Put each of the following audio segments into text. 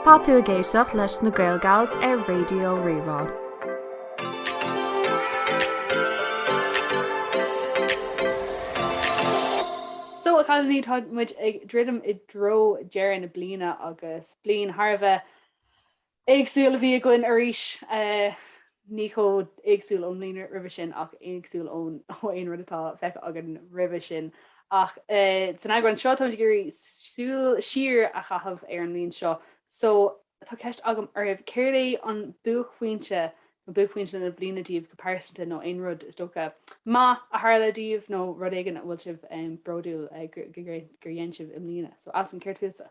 Tá tú ag éisteacht leis na Gaelgals ar Raidió Rí-Rá. So, a chailíní, tá muid ag druidim i dtreo deireadh na bliana agus bliain thar a bheith éagsúil a bhí againn arís, ní chomh héagsúil ón mbliain roimhe sin ach éagsúil ó aon rud atá feicthe againn roimhe sin. Ach san eagrán seo, táimid ag iarraidh súil siar a chaitheamh ar an mbliain seo, so tá ceist agam oraibh, céard é an buaicphointe nó buaicphointí na bliana daoibh go pearsanta nó aon rud is dócha maith a tharla daoibh nó rud éigin a bhfuil sibh bródúil gur dhein sibh i mbliana? So Alswyn, céard fútsa?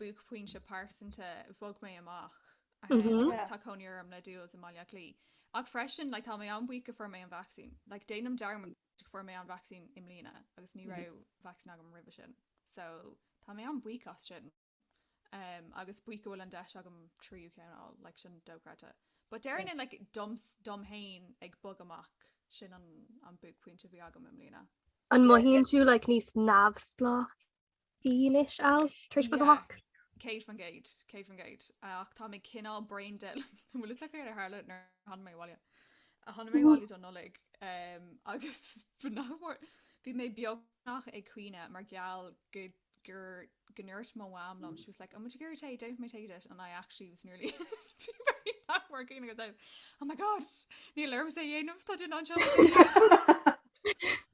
buaicphointe pearsanta bhog mé amach agus tá cónaí orm le Jules i mBaile Átha Cliath ach freisin like tá mé an-buíoch go fuair mé an vacsaín like déanaim dearmad go fuair mé an vacsaín i mbliana agus ní raibh vacsaín agam roimhe sin so tá mé an-bhuíoch as sin um agus buíoch go bhfuil an deis agam tríú ceann a fháil like sin dochreidte but déarfainn like doms dom féin ag bog amach sin an an buaicphointe a bhí agam i mbliana. An mothaíonn tú like níos neamhspleách? dílis ann tar éis bogadh amach. 100%, 100%. Ach tá mé cineál brain dead, an bhfuil fhios agat céard a tharla nuair a tháinig mé abhaile? Tháinig mé abhaile don Nollaig agus ba nach mór, bhí mé beagnach ag caoineadh mar gheall gur go ndúirt mo mham liom, she was like, 'An bhfuil tú ag iarraidh tae? Déanfaidh mé tae duit' and I actually was nearly, bhí mé nach mór ag caoineadh I was, 'Oh my God, níl ormsa é a dhéanamh, tá duine anseo ag iarraidh tae!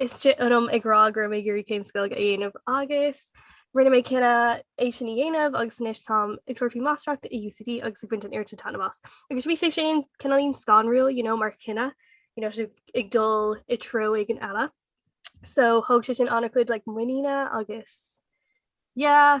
istigh ionam ag rá go raibh mé ag iarraidh céim sa Ghaeilge a dhéanamh agus rinne mé cinneadh é sin a dhéanamh agus anois táim ag tabhairt faoi máistreacht i UCD agus ag baint an oiread taitneamh as. Agus bhí sé sin cineáilín scanrúil you know, mar chinneadh you know, sibh ag dul i treo éigin eile. So thóg sé sin an-chuid like, muiníne agus yeah,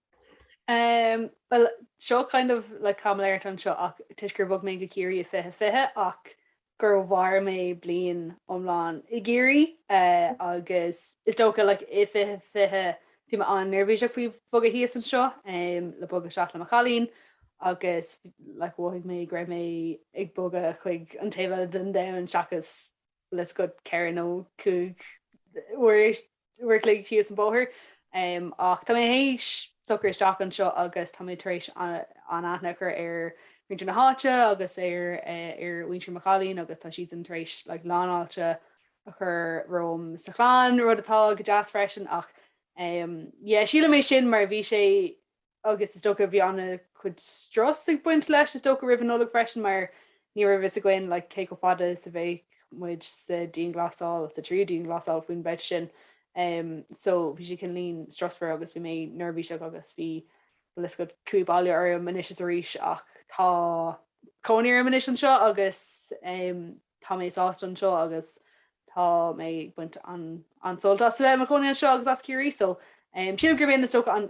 Bhuel, seo kind of like caimiléireacht anseo ach toisc gur bhog mé go Ciarraí i 2020 ach gur mhair mé bliain iomlán i gCiarraí agus is dócha like i 2020 bhí mé an-neirbhíseach faoi bhogadh thíos anseo le bogadh isteach le mo chailín agus like mhothaigh mé go raibh mé ag bogadh chuig an taobh eile den domhan seachas like just ceithre nó cúig uair uair a chloig síos an bóthar ach tá mé théis socrú isteach anseo agus tá mé tar éis an-aithne a chur ar mhuintir na háite agus ar mhuintir mo chailín agus tá siadsan tar éis like lánfháilte a chur romham sa chlann, rud atá go deas freisin ach yeah sílim é sin mar bhí sé agus is dócha bhí an-chuid strus ag baint leis, is dócha, roimh an Nollaig freisin, mar ní raibh a fhios againn like cé chomh fada is a bheadh muid sa dianghlasáil, sa tríú dianghlasáil faoin bpointe sin. Em, so bhí sé cineál strusmhar agus bhí mé neirbhíseach agus bhí like cumha i ndiaidh baile orm anois is arís ach tá cónaí orm anois anseo agus em, tá mé sásta anseo agus tá mé ag baint an-sult as a bheith i mo chónaí anseo agus as Ciarraí so em, sílim gurb é an, is dócha an,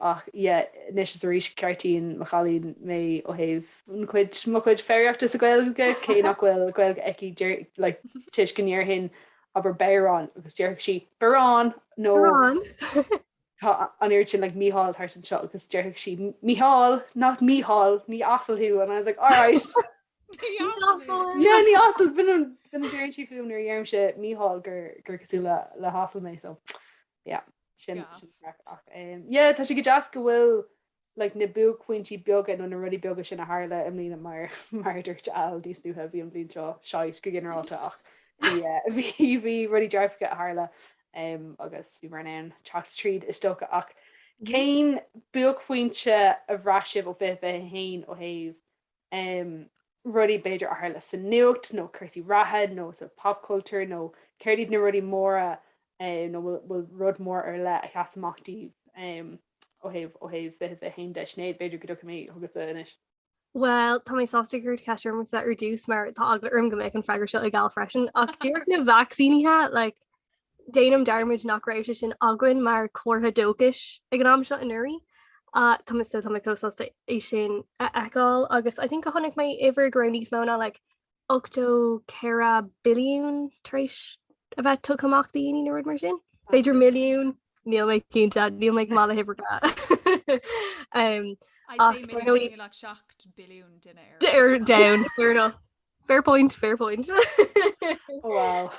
Ach yeah, anois is arís ceartaíonn mo chailín mé ó thaobh mo chuid foghraíochta sa Ghaeilge, cé nach bhfuil Gaeilge aici, toisc go ndéarfainn abair Béarán agus déarfadh sí Berán nó an oiread sin like Mícheál thart anseo agus déarfadh sí Micheál, not Mícheál, ní asal thú and I was like alright yeah ní asal, b'in a déarfadh sí fúm nuair a deirimse Mícheál gur cosúil le hasal mé so. Yeah, sin sin craic ach eh, yeah, tá sé go deas go bhfuil like, na buaicphointí beaga nó na rudaí beaga sin a tharla i mbliana mar mar dúirt Al níos luaithe bhí an bhliain seo shite go ginearálta ach bhí eh, bhí bhí rudaí dearfacha a tharla em, agus bhíomar in ann teacht tríd is dócha ach cén buaicphointe a bhraith sibh ó 2021 ó thaobh rudaí b'fhéidir a tharla sa nuacht nó cúrsaí reatha nó sa pop culture nó céard iad na rudaí móra nó an bhfuil rud mór ar leith a sheas amach daoibh ó thaobh ó thaobh 2021 de. Sinéad, b'fhéidir go dtiocfaidh mé chugatsa anois. Bhuel, tá mé sásta gur cuireadh ceist ormsa ar dtús mar tá eagla orm go mbeidh an freagra seo ag Al freisin ach díreach na vacsaínithe, like, Déanaim dearmad nach raibh sé sin againn mar chomhartha dóchais ag an am seo anuraidh. Tá mé tá mé chomh sásta é sin a fheiceáil agus I think go bhfaca mé uimhir go raibh níos mó ná like 84 billiún tar éis a bheith tugtha amach do dhaoine nó rud mar sin. B'fhéidir milliún níl mé cinnte níl mé maith le huimhreacha. like 7 billiún duine ar domhan fair enough fair point fair point. Wow.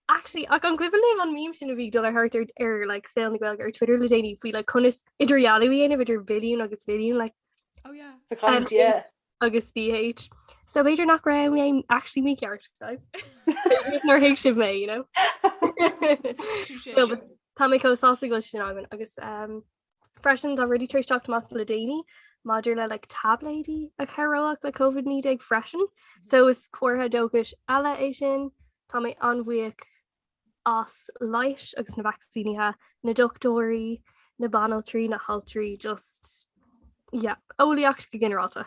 Actually, ach an cuimhin libh an mím sin a bhí ag dul thart ar ar like, saol na Gaeilge ar Twitter le déanaí faoi le like, conas idirdhealú a dhéanamh idir mhilliún agus bhilliún like, oh, yeah. Sa chan, um, yeah. agus BH. So b'fhéidir nach raibh mé actually mícheart guys. Níor thuig sibh mé, you know. Tá mé chomh sásta go bhfuil sin againn agus um, Freisin tá rudaí tar éis teacht amach le déanaí maidir le like, taibléidí a chabhródh le Covid-19 freisin, so is comhartha dóchais eile é sin. Tá mé an-bhuíoch as leigheas agus na vacsaínithe, na dochtúirí, na banaltraí, na haltraí, just yeah, eolaíocht go ginearálta.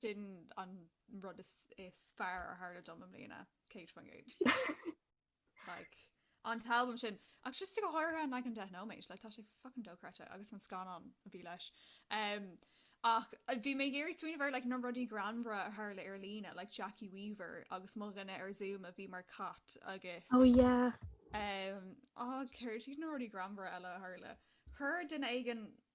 Sin an rud is fearr a tharla dom i mbliana, céad faoin gcéad. Like, an t-albam sin, ach just go háirithe an leagan deich nóiméad, like, tá sé fucking dochreidte, agus an scannán a bhí leis. Um, ach bhí mé ag iarraidh smaoineamh ar, like, na rudaí greannmhara a tharla ar líne, like, Jackie Weaver agus mo dhuine ar Zoom a bhí mar cat agus, Oh yeah. um, á, céard iad na rudaí greannmhara eile a tharla? Chuir duine éigin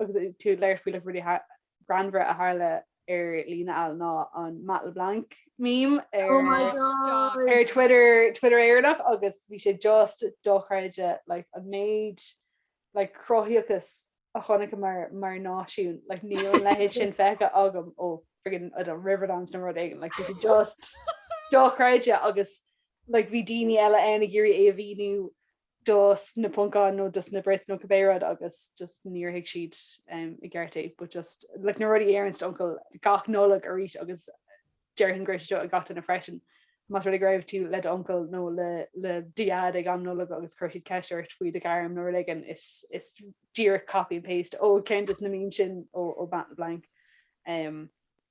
agus tú ag labhairt faoi like rudaí greannmhara a tharla ar líne eile ná an Matt LeBlanc meme ar oh my god ar Twitter Twitter Éireannach agus bhí sé just dochreidte like an méid like cruthaíochas a chonaiceamar mar náisiún like níl an leithéid sin feicthe agam ó friggin I don't know Riverdance nó rud éigin like bhí just dochreidte agus like bhí daoine eile ann ag iarraidh é a mhíniú dos na Poncáin nó dos na Brit nó cibé rud agus just níor thuig siad i gceart é but just like na rudaí a deireanns do uncail gach Nollaig arís agus déarfainn go raibh sé seo ag gach duine freisin más rud é go raibh tú le d'uncail nó le le do dheaid ag am Nollag agus chuir siad ceist ort faoi do ghairm nó rud éigin is is díreach copy and paste ó ceann dos na meme sin ó Matt LeBlanc.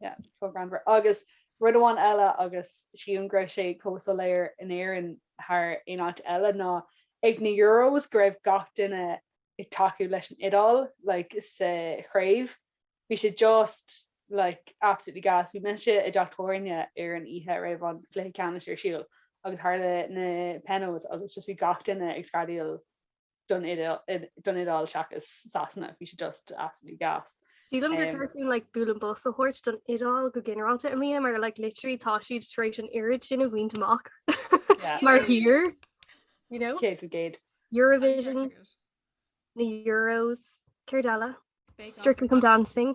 Yeah, chomh greannmhar. Agus rud amháin eile agus sílim go raibh sé chomh soiléir in Éirinn thar aon áit eile ná ag na Euros go raibh gach duine ag tacú leis an Iodáil like sa chraobh. Bhí sé just like absolutely gas. Bhí mise i dteach tábhairne ar an oíche a raibh an cluiche ceannais ar siúl agus tharla na penos agus just bhí gach duine ag screadaíl don Iodáil seachas Sasana, bhí sé just absolutely gas. Sílim gur cheart dúinn like bualadh bos a thabhairt don Iodáil go ginearálta i mbliana mar like literally tá siad tar éis an oiread sin a bhaint amach mar thír, you know? Céad faoin gcéad. Eurovision, na Euros, céard eile? Strictly Come Dancing.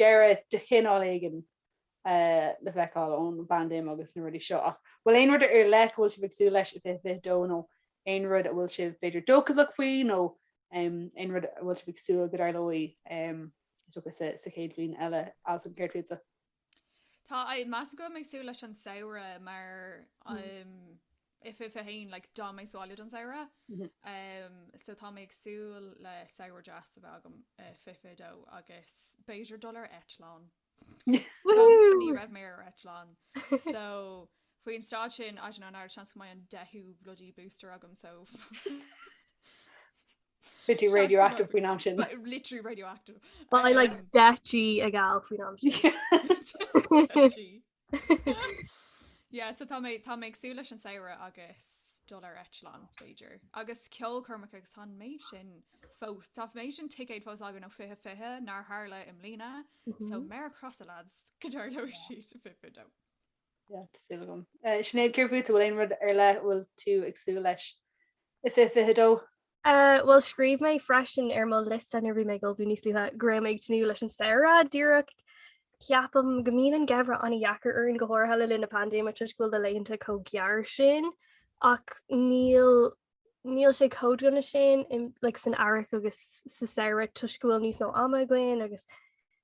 deireadh de chineál éigin le feiceáil ón bpaindéim agus na rudaí seo ach bhfuil aon rud ar leith a bhfuil sibh ag súil leis i 2022 nó aon rud a bhfuil sibh b'fhéidir dóchasach faoi nó aon rud a bhfuil sibh ag súil go dtarlóidh is dócha sa chéad bhliain eile Alswyn, céard fútsa? Tá mise go mór ag súil leis an samhradh mar I 2021, like, D'fhan mé sa bhaile don samhradh. Umm, so tá mé ag súil le samhradh deas a bheith agam i 2022 agus b'fhéidir dul ar eitleán. Woohoo! Ní raibh mé ar eitleán. So, faoin staid sin, I don't know, ana-sheans go mbeidh an deichiú bloody booster agam, so Beidh tú radioactive faoin am sin. literally radioactive. Beidh like Um, deich G ag Al faoin am sin. Deich G. Sea, so tá mé, tá mé ag súil leis an samhradh agus dul ar eitleán, b'fhéidir. Agus ceolchoirmeacha agus tá an méid sin fós, tá méid sin ticéad fós againn ó 2020 nár tharla i mbliana, so méara crosáilte, go dtarlóidh siad i 2022. Sea, tá súil agam. Sinéad, céard fútsa, an bhfuil aon rud ar leith bhfuil tú ag súil leis i 2022? Bhuel, scríobh mé freisin ar mo liosta nuair a bhí mé ag ullmhú níos luaithe go raibh mé ag tnúth leis an samhradh díreach. Ceapaim go mbíonn an geimhreadh an-dheacair orainn, go háirithe le linn na paindéime toisc go bhfuil na laethanta chomh gearr sin ach níl níl sé chomh dona sin san earrach agus sa samhradh toisc go bhfuil níos mó ama againn agus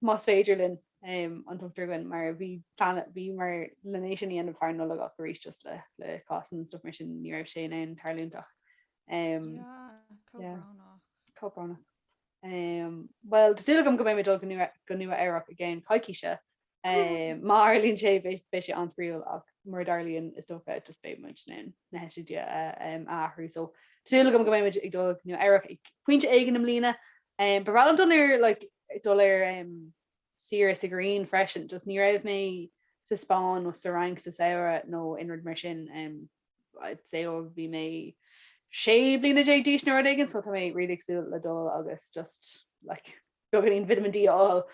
más féidir linn, an tugtar againn, mar a bhí plean, bhí, muid le hé sin a dhéanamh thar an Nollaig ach arís just le, le cásanna is stuff mar sin ní raibh sé in ann tarlúint ach. Bhuel, tá súil agam go mbeidh mé ag dul go Nua-Eabhrac i gceann coicíse. Má tharlaíonn sé beidh sé an-spraíúil ach mura dtarlaíonn is dócha just beidh muid in ann na heitiltí a athrú. So, tá súil agam go mbeidh muid ag dul go Nua-Eabhrac ag pointe éigin i mbliana. Ba bhreá liom dul ar like dul ar saoire sa ghrian freisin, just ní raibh mé sa Spáinn nó sa Fhrainc sa samhradh nó aon rud mar sin, I'd say ó bhí mé sé bliana déag d'aois nó rud éigin, so tá mé really ag súil le dul agus just like beagáinín vitamin D a fháil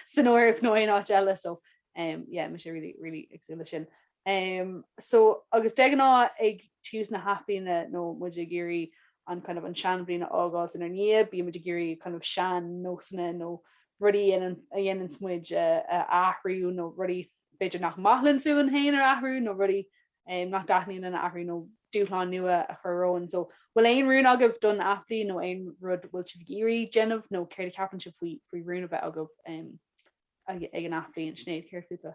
san Eoraip nó aon áit eile, so yeah, tá mé really, really ag súil leis sin. Ehm, so, agus de ghnáth ag tús na hathbhliana bíonn muid ag iarraidh an kind of an seanbhliain a fhágáilt inár ndiaidh, bíonn muid ag iarraidh kind of sean-nósanna nó rudaí a dhéanann, a dhéananns muid a, a athrú nó rudaí b'fhéidir nach maith linn fúinn féin a athrú nó rudaí, eh, nach dtaitníonn linn a athrú nó dúshláin nua a chur romhainn. So, bhfuil aon rún agaibh don athbhliain nó aon rud bhfuil sibh ag iarraidh déanamh nó céard a cheapann sibh faoi, faoi rún a bheith agaibh, em, ag, ag an athbhliain? Sinéad, céard fútsa?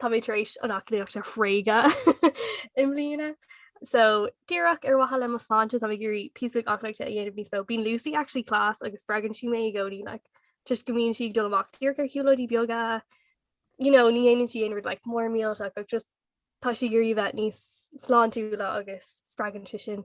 Tá mé tar éis an aclaíocht a thréigean i mbliana. So díreach ar mhaithe le mo sláinte tá mé ag iarraidh píosa beag aclaíochta a dhéanamh níos mó. Bíonn Lucy actually class agus spreagann sí mé i gcónaí like toisc go mbíonn sí ag dul amach díreach ar shiúlóidí beaga you know ní dhéanann sí aon rud like mór millteach ach just tá sí ag iarraidh a bheith níos sláintiúla agus spreagann sé sin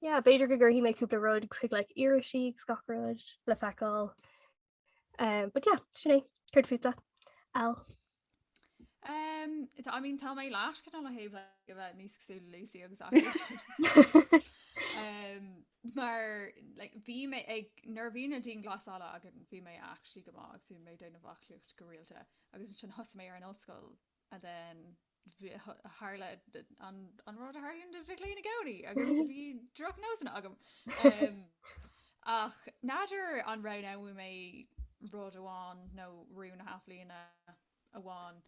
Yeah, b'fhéidir go gcuirfidh mé cúpla rud chuig like irisí agus gach rud le feiceáil. Um, but yeah, sin é, céard fútsa? Al. Um, tá, I mean, tá mé leis go le héh go bheith níos cosúla le Lucy agus um, mar like, bhí mé ag nuair a bhí na dianghlasálacha agus bhí mé actually go maith agus bhí mé ag déanamh aclaíocht go rialta agus ansin thosaigh mé ar an ollscoil and then tharla an rud a tharlaíonn do mhic léinn i gcónaí agus bhí drochnósanna agam. Ach níor roghnaigh mé rud amháin nó rún athbhliana amháin.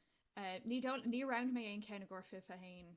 Ní ní rinne mé aon cheann i gcomhair fiche haon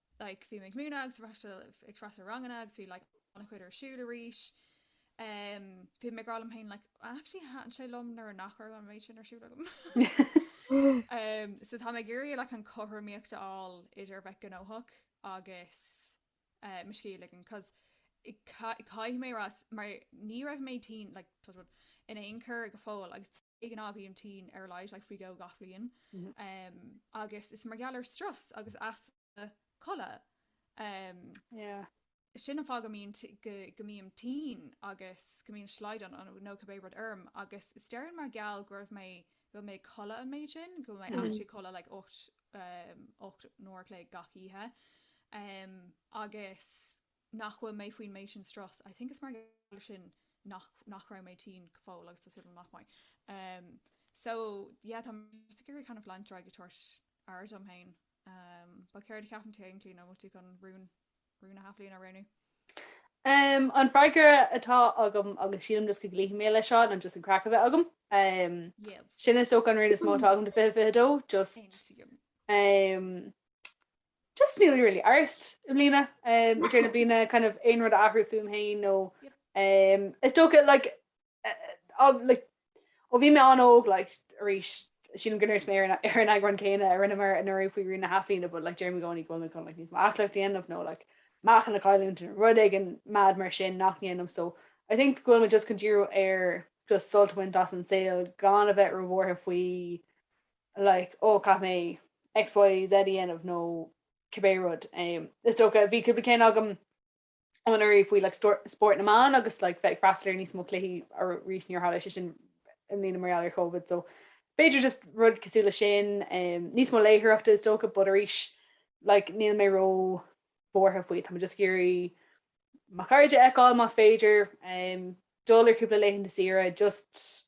like bhí mé ag múineadh agus freastal ag freastal ar ranganna agus bhí like ana chuid ar siúl arís ehm bhí mé ag rá liom féin like I actually thaitn sé liom nuair nach raibh an méid sin ar siúl agam ehm so tá mé ag iarraidh like an cothromaíocht a fháil idir a bheith gnóthach agus eh mo scíth a ligean cos caith caithfidh mé a rá mar ní raibh mé tinn like touch wood in aon chor go fóill agus de ghnáth bím tinn ar a laghad, like, faoi dhó gach bhliain. Umm, agus is mar gheall ar strus agus easpa codlata. Umm, Yeah. sin an fáth go mbíonn t, go, go mbím tinn agus go mbíonn slaghdán nó, nó cibé rud orm agus is dóigh liom mar gheall go raibh mé, go bhfuil mé ag codladh an méid sin, go bhfuil mé actually ag codladh like ocht, umm, ocht n-uair a chloig gach oíche. Umm, agus nach bhfuil mé faoin méid sin strus, I think is mar gheall ar sin nach nach raibh mé tinn go fóill agus tá súil agam nach mbeidh. em so yeah tá mé just ag iarraidh kind of leanacht ar aghaidh ag tabhairt aire dom féin em but céard a cheapann tú féin tú nó bhfuil tú chun rún rún na hathbhliana a roghnú? em an freagra atá agam agus sílim just go gcloífidh mé leis seo an just an chraic a bheith agam em Yep. sin is so an rún is mó atá agam do fiche fiche dó just Aontaím. em Just níl really ar intinn i mbliana i dtreo na bliana kind of aon rud a athrú fúm féin nó is dócha like like ó bhí mé an-óg like arís sílim go ndúirt mé ar an ar an eagrán céanna a rinneamar anuraidh faoi rún na hathbhliana but like deirim i gcónaí go bhfuil mé chun like níos mó aclaíocht a dhéanamh nó like meáchan a chailliúint nó rud éigin mad mar sin nach ndéanaim so I think go bhfuil mé just chun díriú ar just sult a bhaint as an saol gan a bheith róbhuartha faoi like, oh caithfidh mé X, Y, Z a dhéanamh nó cibé rud. Is dócha, bhí cúpla ceann agam anuraidh faoi like spórt na mban agus like bheith ag freastal ar níos mó cluichí arís níor tharla sé sin i mbliana mar gheall ar Covid so b'fhéidir just rud cosúil le sin. Níos mó léitheoireachta is dócha but arís like níl mé ró bhuartha faoi. Tá mé just ag iarraidh mo chairde a fheiceáil más féidir, dul ar chúpla laethanta saoire just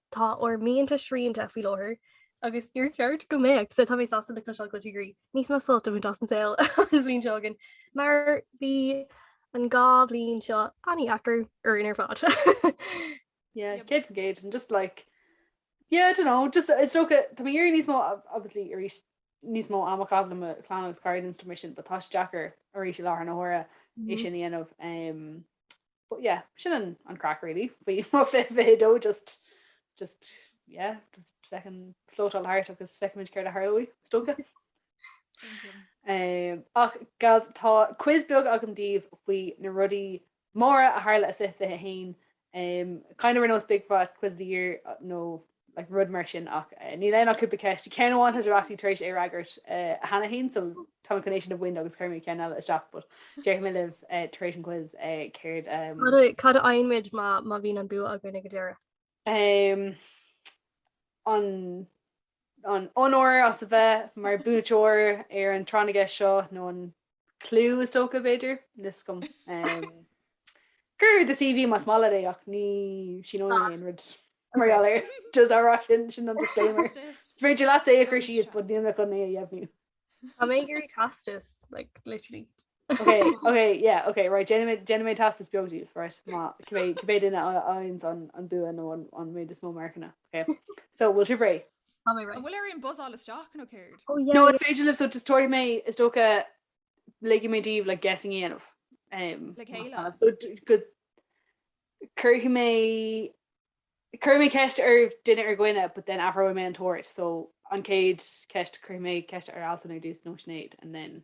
Tá ár mianta srianta faoi láthair agus níor cheart go mbeadh, sea, tá mé sásta le cloisteáil go dteastaíonn, níos mó suilt a bhaint as an saol an bhliain seo chugainn mar bhí an dhá bhliain seo an-deacair orainn ar fad. Yeah, 100%, and just like, yeah, I don't know, just is dócha, tá mé ag iarraidh níos mó, obviously, arís, níos mó ama a chaitheamh le mo chlann agus cairde and stuff mar sin, but tá sé deacair arís i láthair na huaire é sin a dhéanamh. But yeah, sin an an craic really faoi mo fiche fiche a dó just just yeah just feckin' flótáil thart agus feicimid céard a tharlóidh is dócha. Um, ach gals tá quiz beag agam daoibh faoi na rudaí móra a tharla i fiche fiche a haon. Um, kind of ar nós big fat quiz of the year uh, nó like rud mar sin ach níl ann ach cúpla ceist ceann amháin tá sibh actually tar éis é a fhreagairt cheana féin so tá mé chun é sin a bhaint agus cuirfidh mé ceann eile isteach but déarfaidh mé libh tar éis an quiz céard cad a fhaighimid má bhíonn an bua againn ag an deireadh? an an onóir as a bheith mar buaiteoir ar an tráth na gceist seo nó an clú is dócha, b'fhéidir, níl fhios agam. Cuir do CV más maith leat é ach ní shíneoinn aon rud mar gheall air. Just á rá sin, sin an disclaimer. Is féidir leat é a chur síos but níl mé chun é a dheimhniú. Tá mé ag iarraidh teastas, like, literally. Ok, ok, yeah, ok, right, déanfaidh mé- déanfaidh mé teastas beag daoibh, right, má cibé cibé duine a fhaghanns an an bua nó an an méid is mó marcanna, ok. So, bhfuil sibh réidh? Tá mé ready. An bhfuil orainn buzzáil isteach nó céard? Oh yeah. No is féidir libh so just tabharfaidh mé is dócha ligfidh mé daoibh like guessing a dhéanamh um Le chéile. so go cuirfidh mé cuirfidh mé ceist ar duine ar dhuine but then athróidh mé an t-ord so an chéad ceist cuirfidh mé ceist ar Altan ar dtús nó Sinéad and then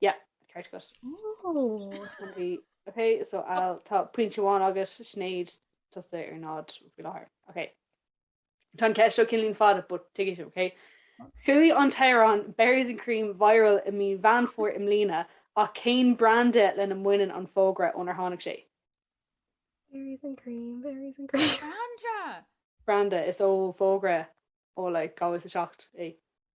Yeah, ceart agat. Oh. Ok, so Al, tá pointe amháin agat, Sinéad, tusa ar náid faoi láthair. Ok. Tá an cheist seo cineáilín fada, but take it, ok? Chuaigh an t-amhrán Berries and Cream viral i mí Mheán Fómhair i mbliana ach cén branda lena mbaineann an fógra ónar tháinig sé? Berries and cream, berries and cream. Branda! Branda is ó fógra ó like 2007 é.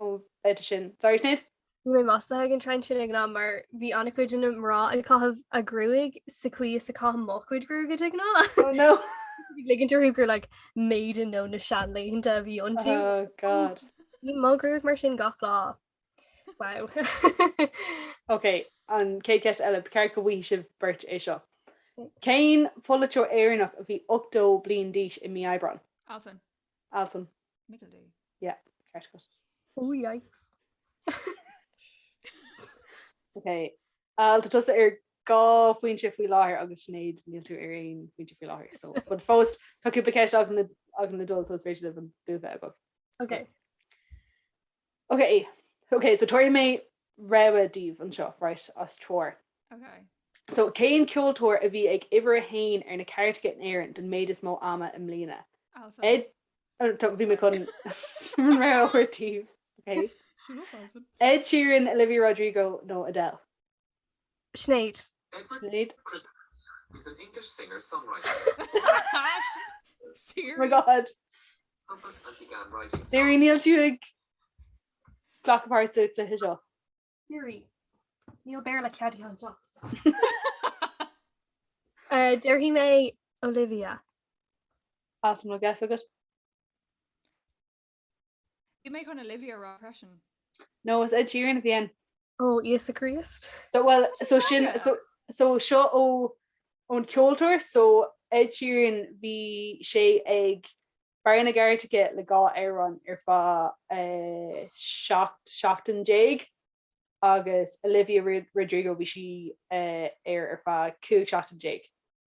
Óh, fhada sin. Sorry, Sinéad. Bhí mé maslaithe ag an trend sin ag an am mar bhí an-chuid de na mná ag caitheamh a gruaig sa chaoi is a chaithim mo chuid gruaige de ghnáth. Oh no! Ag ligint orthu gur like maiden ó na seanlaethanta a bhí iontu. Oh God. Bhí mo ghruag mar sin gach lá. Wow. Ok, an chéad cheist eile, ba cheart go bhfaighidh sibh beirt é seo. Cén pholaiteoir Éireannach a bhí 80 bliain d'aois i mí Aibreáin? Altan. Altan. Michael D. Yeah, ceart agat. Oh yikes. Ok, Al, tá tusa ar dhá phointe faoi láthair agus Sinéad níl tú ar aon phointe faoi láthair. So, but fós tá cúpla ceist agam le dul so is féidir libh an bua a fháil agam. Ok. Ok, ok, so tabharfaidh mé rogha daoibh anseo, right, as triúr. Ok. So, cén ceoltóir a bhí ag uimhir a haon ar na cairteacha in Éirinn don méid is mó ama i mbliana? Altan. Ed, oh, tá- bhí mé chun an rogha a thabhairt daoibh. Ok. So Altan. Ed Sheeran, Olivia Rodrigo nó Adele? Sinéad. Sinéad. Oh my god. Siri, níl tú ag glacadh páirt sa chluiche seo? Siri, níl Béarla ceadaithe anseo. Déarfaidh mé Olivia. Agus an bhfuil guess agat? Bhí mé chun Olivia a rá freisin. No, is Ed Sheeran a bhí ann. Ó, Íosa Críost. So, well, so sin, so, so seo ó, ón ceoltóir, so Ed Sheeran, bhí sé ag barr na gcairteacha le dhá amhrán ar feadh eh, seacht seachtain déag agus Olivia Ro- Rodrigo, bhí sí eh, air ar feadh cúig seachtain déag.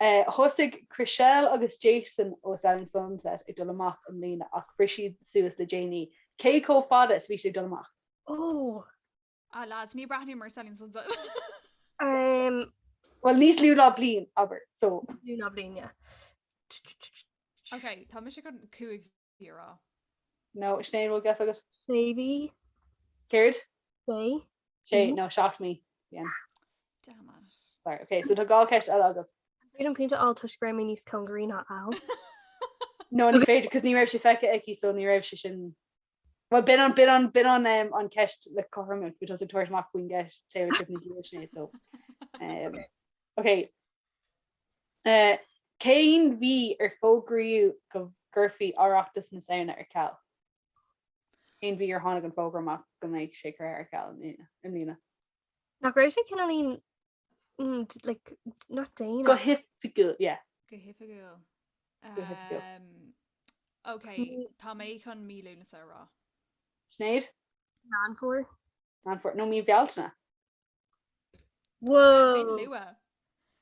Thosaigh Chrishell agus Jason ó Selling Sunset ag dul amach i mbliana ach bhris siad suas le déanaí. Cé chomh fada is a bhí siad ag dul amach? Oh. Ah lads, ní breathnaím ar Selling Sunset. Umm. Bhuel, níos lú ná bliain, abair, so. Níos lú ná bliain, yeah. Ok, tá mise chun cúig mhí a rá. No, Sinéad, bhfuil guess agat? Sé mhí. Céard? Sé. Sé, no, seacht mí. Bien. Damn it. Sorry, ok, so tá dhá cheist eile agat. Bhí an pointe a fháil toisc go raibh mé níos cóngaraí ná Al. No, ní féidir, cos ní raibh sé feicthe aici, so ní raibh sé sin. Well, b'in an, b'in an, b'in an um, an ceist le cothroime, cos bhí tusa ag tabhairt amach faoin gceist Taylor Swift níos luaithe Sinéad, so. um, Ok, Cén mhí ar fógraíodh go gcuirfí Oireachtas na Samhna ar ceal? Cén mhí ar tháinig an fógra amach go mbeidh sé curtha ar ceal i mbliana? Nach raibh sé cineáilín like not déanach. Go hoifigiúil, yeah. Go hoifigiúil. Go hoifigiúil. Ok, tá mé chun mí Lúnasa a rá. Sinéad? Meán Fómhair. Meán Fómhair No, mí Bhealtaine. Whoa!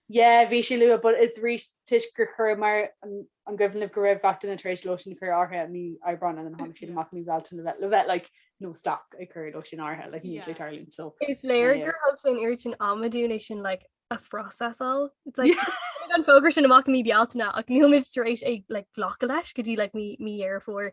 Yeah, bhí sé luath, but it's arís toisc gur chuir mar an gcuimhin libh go raibh gach duine tar éis lóistín a chur in áirithe mí Aibreáin and tháinig siad amach mí Bhealtaine le bheith le bheith like no stop ag cur lóistín in áirithe like níl sé ag tarlúint so. Is léir gur thóg sé an oiread sin ama dúinn é sin like a phrosesáil. It's like an fógra sin amach mí Bealtaine ach níl muid tar éis ag like glacadh leis go dtí like mí Dheireadh Fómhair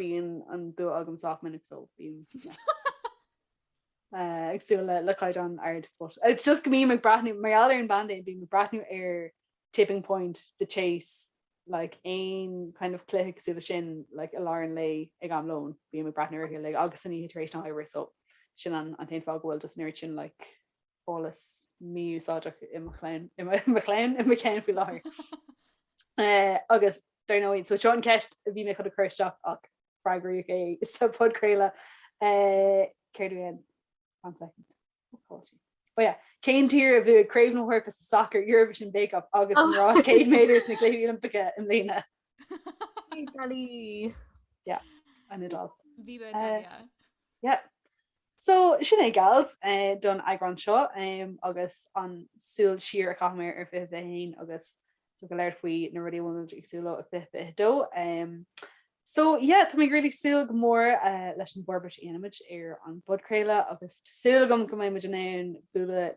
bíonn an bua agam sách minic so bím ag súil le caighdeán ard but it's just go mbím ag breathnú mar gheall ar an bpaindéim bím ag breathnú ar Tipping Point, The Chase like aon kind of cluiche cosúil leis sin like i lár an lae ag am lóin bím ag breathnú orthu like agus san oíche tar éis na hoibre so sin an t-aon fáth go bhfuil just an oiread sin like eolas mí-úsáideach i mo chlann, i mo chlann, i mo cheann faoi láthair. Agus dar ndóigh, so seo an ceist a bhí mé chun a chur isteach ach freagraíodh é sa podchraoladh. Céard a bhí ann? One second. What caught you? Oh yeah. Cén tír a bhuaigh Craobh na hEorpa sa sacar, Eurovision Bake Off agus an rás 100 méadar sna Cluichí Oilimpeacha i mbliana? Italy. Yeah, an Iodáil. Viva Italia. Yeah. So, sin é gals don eagrán seo agus an súil siar a chaitheamar ar Fiche Fiche hAon agus so gur labhair faoi na rudaí a bhfuil muid ag súil leo ar Fiche Fiche Dó. So, yeah, tá mé really súil go mór leis an bhforbairt a dhéanfaimid ar an bpodchraoladh agus tá súil agam go mbeidh muid in ann bualadh